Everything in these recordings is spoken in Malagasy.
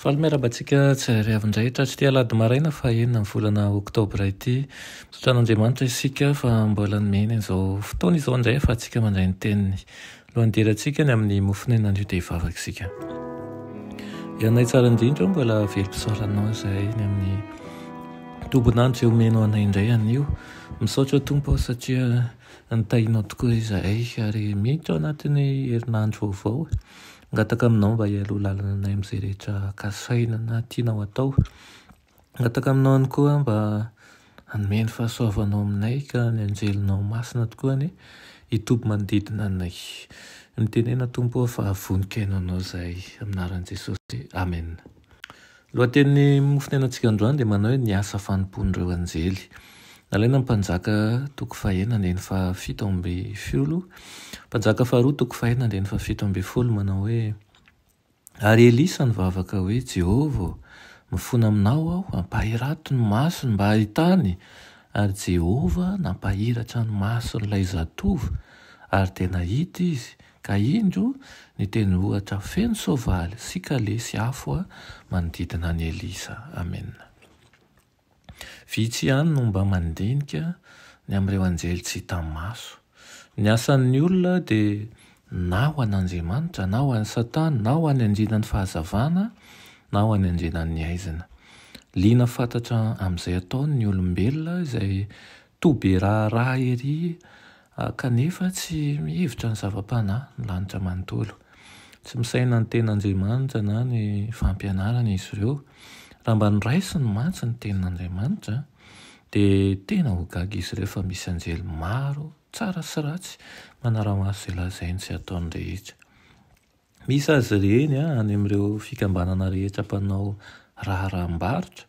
Faly miarahaba antsika tsy zay ariavy indray hatratr'ity alahady maraina fahaenina ny volana oktobra ity. Misaotra an'Andriamanitra isika fa mbola nomeny an'izao fotoana izao indray ahafahantsika mandray ny teniny. Alohan'ny hidirantsika any amin'ny mofon'aina anio dia hivavaka isika. Ianay tsara indrindra eo mbola velom-pisaoranao izay ny amin'ny tombon'andro izay omeno anay indray anio. Misaotra Tompo aho satria nitahinao tokoa izahay ary miditra ao anatin'ny herinandro vaovao. Hangataka aminao mba hialoha lalana anay amin'izay rehetra kasaina na tianao hatao. Hangataka aminao ihany koa aho mba hanome ny fahasoavanao aminay ka ny anjelinao masina tokoa anie hitoby manodidina anay. Mitenena Tompo ô fa vonikainao anao izahay. Amin'ny anaran'i Jesosy. Amena. Lohatenin'ny mofonenatsika androany dia manao hoe ny asa fanompoan'ireo anjely. Nalaina ny Mpanjaka toko fahena andininy fahafito amby folo, Mpanjaka faharoa toko fahena andininy fahafito ambin'ny folo manao hoe, Ary Elisa nivavaka hoe, Jehovah ô, mifona aminao aho, ampahirato ny masony mba hahitany! Ary Jehovah nampahiratra ny mason'ilay zatovo, ary dia nahita izy, Ka indro, ny teny ohatra feno soavaly sy kalesy afo manodidina an'i Elisa. Amena. Vitsy ihany no mba mandinika ny amin'ireo anjely tsy hita maso. Ny asan'ny olona dia na ho an'Andriamanitra, na ho an'i Satana, na ho any andrinan'ny fahazavana, na ho any andrinan'ny haizina. Liana fatratra amin'izay ataony ny olombelona izay toa be raharaha ery Kanefa tsy mihevitra ny zava-panahy ny lanitra manontolo. Tsy misaina ny Tenin'Andriamanitra na ny fampianarany izy ireo. Raha mba noraisiny mantsy ny Tenin'Andriamanitra, dia tena ho gaga izy ireo fa misy anjely maro, tsara sy ratsy, manara-maso izay lazainy sy ataony rehetra. Misy azy ireny any amin'ireo fikambanana rehetra mpanao raharaham-barotra.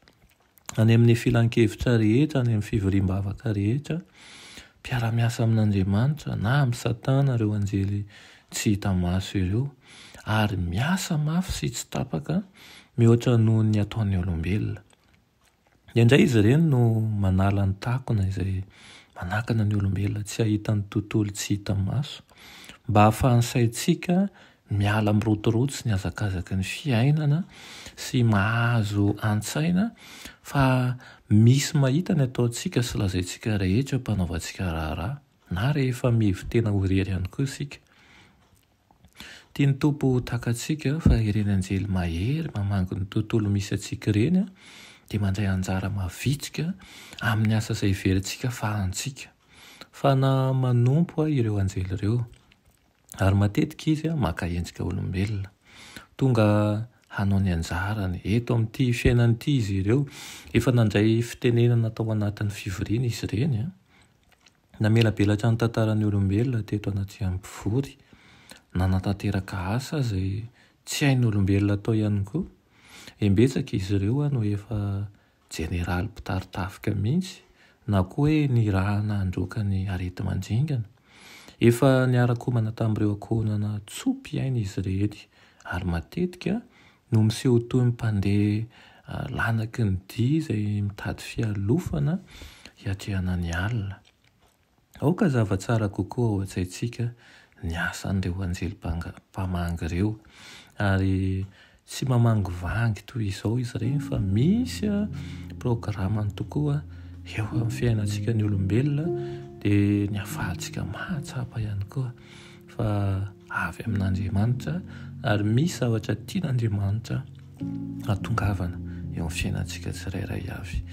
any amin'ny filankevitra rehetra, any amin'ny fivoriam-bavaka rehetra, mpiara-miasa amin'Andriamanitra na amin'i Satana ireo anjely tsy hita maso ireo, ary miasa mafy sy tsy tapaka mihoatra noho ny ataon'ny olombelona. Indraindray izy ireny no manala ny takona izay manakana ny olombelona tsy hahita ny tontolo tsy hita maso, mba hahafahan'ny saintsika Miala amin'ny rotiroty sy ny hazakazaky ny fiainana sy mahazo an-tsaina fa misy mahita ny ataontsika sy lazaintsika rehetra mpanaovantsika raharaha na rehefa mihevi-tena ho irery ihany koa isika. Tian'ny Tompo ho takatsika fa ireny anjely mahery mamangy ny tontolo misy antsika ireny dia mandray anjara mavitrika amin'ny asa izay heverintsika fa antsika. Fa na manompo aho ireo anjely ireo. ary matetika izy maka endrika olombelona. Tonga hanao ny anjarany eto amin'ity fiainana ity izy ireo. Efa nandray fitenenana tao anatin'ny fivoriana izy ireny. Namelabelatra ny tantaran'ny olombelona teto anaty haino mpivory. Nanatanteraka asa izay tsy hain'ny olombelona atao ihany koa. Imbetsaka izy ireo no efa jeneraly mpitari-tafika mihitsy na koa hoe nirahana handroaka ny areti-mandringana. Efa niara-komana tamin'ireo ankohonana tso-pihaino izy ireny ary matetika no miseho toy ny mpandeha lanaky ny dia izay mitady fialofana hiatrehana ny alina. Aoka zava tsara kokoa ao an-tsaintsika ny asan'ireo anjely mpamangy ireo. Ary tsy mamangivangy toy izao izy ireny fa misy programany tokoa eo amin'ny fiainantsika ny olombelona dia ny afahantsika mahatsapa ihany koa fa avy amin'Andriamanitra ary misy zavatra tian'Andriamanitra hahatongavana eo amin'ny fiainantsika tsirairay avy.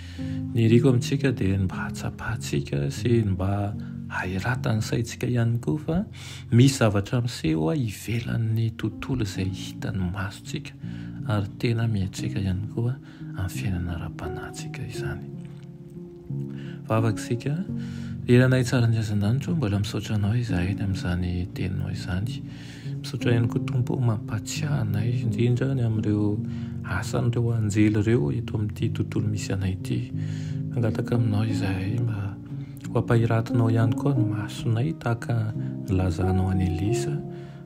Ny iriko amintsika dia ny mba hatsapantsika sy ny mba hahiratan'ny saintsika ihany koa fa misy zavatra miseho ivelan'ny tontolo izay hitan'ny masontsika ary tena miantseka ihany koa amin'ny fiainana ara-panahintsika izany. Vavaka isika. Ry Ranay tsara ny hazandanitra o, mbola misaotra Anao izahay ny amin'izany Teninao izany. Misaotra ihany koa Tompo o, mampatsiahy anay indrindra ny amin'ireo asan'ireo anjely ireo eto amin'ity tontolo misy anay ity. Mangataka Aminao izahay mba ho ampahiratinao ihany koa ny masonay tahaka ny nilazanao an'i Elisa,